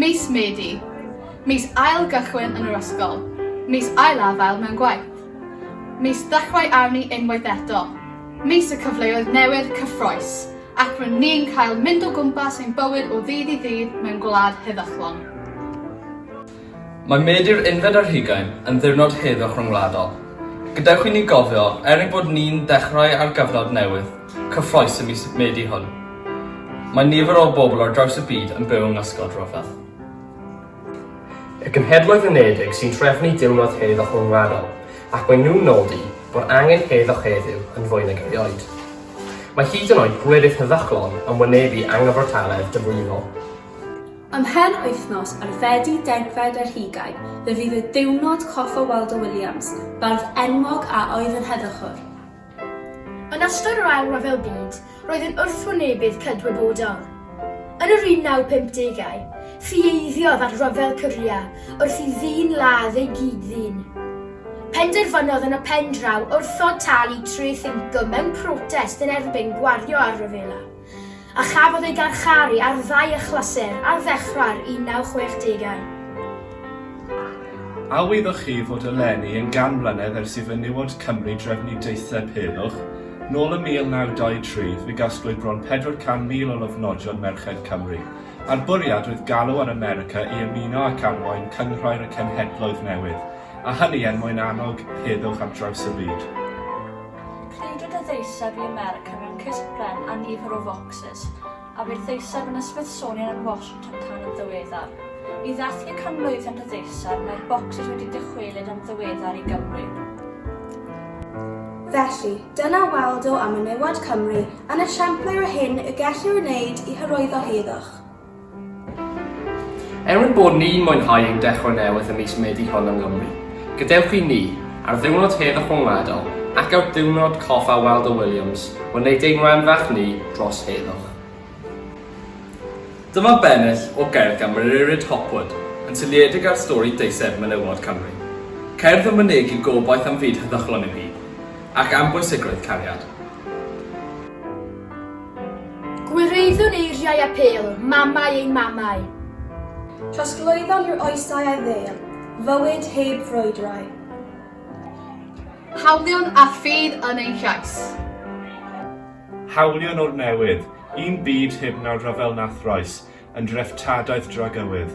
Mis Medi, mis ail gychwyn yn yr ysgol, mis ail afael mewn gwaith, mis dechrau arni unwaith eto, mis y cyfleoedd newydd cyffroes, ac rŷn ni'n cael mynd o gwmpas ein bywyd o ddydd i ddydd mewn gwlad heddychlon. Mae Medi yr unfed ar hugain yn ddiwrnod heddwch ryngwladol. Gadewch i ni gofio, er ein bod ni'n dechrau ar gyfnod newydd cyffrous y mis Medi hwn, mae nifer o bobl ar draws y byd yn byw yng ngysgod rhyfel. Y Genhedloedd Unedig sy'n trefnu Diwrnod Heddwch Ryngwladol ac maen nhw'n nodi bod angen heddwch heddiw yn fwy nag erioed. Mae hyd yn oed gwledydd heddychlon yn wynebu angyfartaledd diflino. Ym mhen wythnos ar Fedi degfed ar hugain fe fydd y diwrnod coff o Waldo Williams, bardd enwog a oedd yn heddychwr. Yn ystod yr Ail Ryfel Byd roedd yn wrthwynebydd cydwybodol. Yn yr 1950au, ffieiddodd ar Ryfel Corea wrth i ddyn ladd ei gyd-ddyn. Penderfynodd yn y pen draw wrthod talu treth incwm mewn protest yn erbyn gwario ar ryfela. a chafodd ei garcharu ar ddau achlysur ar ddechrau'r 1960au. A wyddoch chi fod eleni yn gan mlynedd ers i fenywod Cymru drefnu deitheb heddwch? Nôl ym 1923, fe gasglwyd bron 400,000 o lofnodion merched Cymru, a'r bwriad oedd galw ar America i ymuno ac arwain Cynghrair y Cenhedloedd Newydd, a hynny er mwyn annog heddwch ar draws y byd. Credid y ddeiseb i America mewn cysp bren a nifer o focsys, a bu'r ddeiseb yn y Smithsonian yn Washington tan yn ddiweddar. I ddathlu canmlwyddiant y ddeiseb, mae'r bocsys wedi dychwelyd yn ddiweddar i Gymru. Felly, dyna Waldo a menywod Cymru yn esiampl ar hyn y gellir ei wneud i hyrwyddo heddwch. Er ein bod ni'n mwynhau ein dechrau newydd ym mis Medi hon yng Nghymru, gadewch i ni, ar ddiwrnod hedd y rhyngwladol ac ar ddiwrnod coffa Waldo Williams, wneud ein rhan fach ni dros heddwch. Dyma bennill o gerdd gan Muririd Hopwood yn seiliedig ar stori deiseb menywod Cymru. Cerdd yn mynegi gobaith am fyd heddychlon i'w hun, ac am bwysigrwydd cariad. Gwireiddwn eiriau apêl, mamau ein mamau. Trosglwyddon i'r oesau a'i ddêl, fywyd heb frwydrau. Hawlion a ffydd yn ein llais. Hawlion o'r newid, un byd heb nawdd rhyfel na throes, yn dreftadaeth dragywydd.